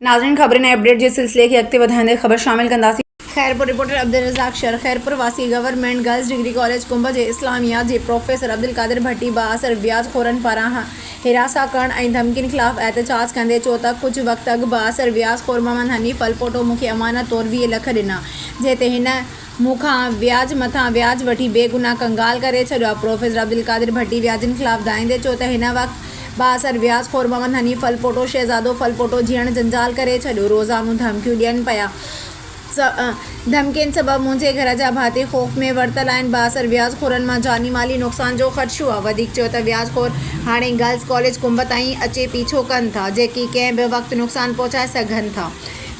ناظرين خبرن ۽ اپڊيٽ جي سلسلي کي اڳتي وڌائيندي خبر شامل ڪنداسين. خيرپور، رپورٽر عبدالرزاق شر، خيرپور واسي government girls degree college Kumb جي اسلاميات جي پروفيسر عبدالقادر ڀٽي بااثر وياج خورن پاران حراسان ڪرڻ ۽ ڌمڪين خلاف احتجاج ڪندي چيو ته ڪجهه وقت اڳ بااثر وياج خور محمد حنيف الپوٽو مون کي امانت طور ويهه لک ڏنا جنهن تي هن مون کان وياج مٿان وياج وٺي بيگناهه ڪنگال ڪري ڇڏيو آهي. پروفيسر عبدالقادر ڀٽي وياجين خلاف دانهيندي چيو ته هن وقت بااثر وياج خور محمد حنيف ڦلپوٽو، شهزادو ڦلپوٽو جيڻ جنجال ڪري ڇڏيو. روزانو ڌمڪيون ڏين پيا. ڌمڪين سبب منهنجي گهر جا ڀاتي خوف ۾ ورتل آهن. بااثر وياج خورن مان جاني مالي نقصان جو خدشو آهي. وڌيڪ چيو ته وياج خور هاڻي گرلز ڪاليج ڪنب تائين اچي پيڇو ڪن ٿا، جيڪي ڪنهن به وقت نقصان پهچائي سگهن ٿا.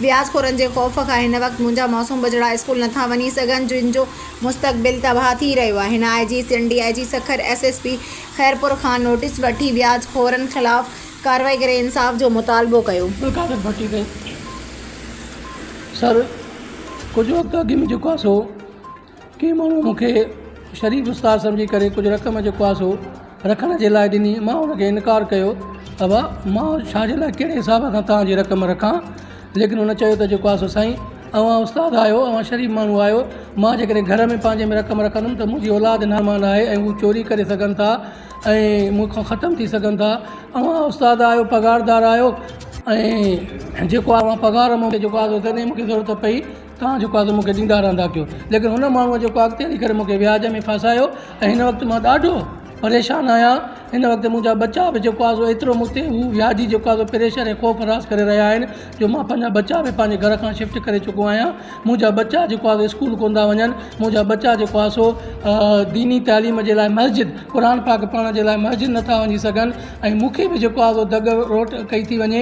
وياس خورن جي خوف کان هن وقت منهنجا معصوم ٻچڙا اسڪول نٿا وڃي سگهن جن جو مستقبل تباهه ٿي رهيو آهي هن I G Sindh D I G Sukkur S S P Khairpur کان نوٽيس وٺي وياج خورن خلاف ڪارروائي ڪري انصاف جو مطالبو ڪيو. بلقادر ڀٽي ڪئي سر ڪجهه وقت اڳ ۾ جيڪو آ سو ڪنهن ماڻهوء مون کي شريف استاد سمجهي ڪري ڪجهه رقم جيڪو آهي سو رکڻ جي لاء ڏني. مان ان کي انڪار ڪيو. ابا! مان ڇا جي لاء ڪهڙي حساب سان توهان جي رقم رکان؟ ليڪن هن چيو ته جيڪو آهي سو سائين اوهان استاد آهيو، اوهان شريف ماڻهو آهيو، مان جيڪڏهن گهر ۾ پنهنجي ۾ رقم رکندم ته منهنجي اولاد نامان آهي ۽ هو چوري ڪري سگهن ٿا ۽ مون کان ختم ٿي سگهن ٿا. اوهان استاد آهيو، پگهاردار آهيو ۽ جيڪو اوهان پگهار مون کي جيڪو آهي سو تڏهن مون کي ضرورت پئي توهان جيڪو اگهه مون کي ڏيندا رهندا ڪيو ليڪن هن ماڻهوء جيڪو اڳتي هلي ڪري مون کي وياج ۾ ڦاسايو ۽ هن وقت مان ڏاڍو پريشان آهيان هن وقت منهنجا ٻچا به جيڪو آهي سو ايترو مون تي هو وياجي جيڪو آهي سو پريشر ۽ خوف راس ڪري رهيا آهن جو مان پنهنجا ٻچا به پنهنجي گهر کان شفٽ ڪري چڪو آهيان منهنجا ٻچا جيڪو آهي سو اسڪول ڪونه ٿا وڃن منهنجا ٻچا جيڪو آهي سو ديني تعليم جي لاء مسجد قرآن پاڪ پڙهڻ جي لاء مسجد نٿا وڃي سگهن ۽ مون کي به جيڪو آهي سو دڳ روٽ ڪئي ٿي وڃي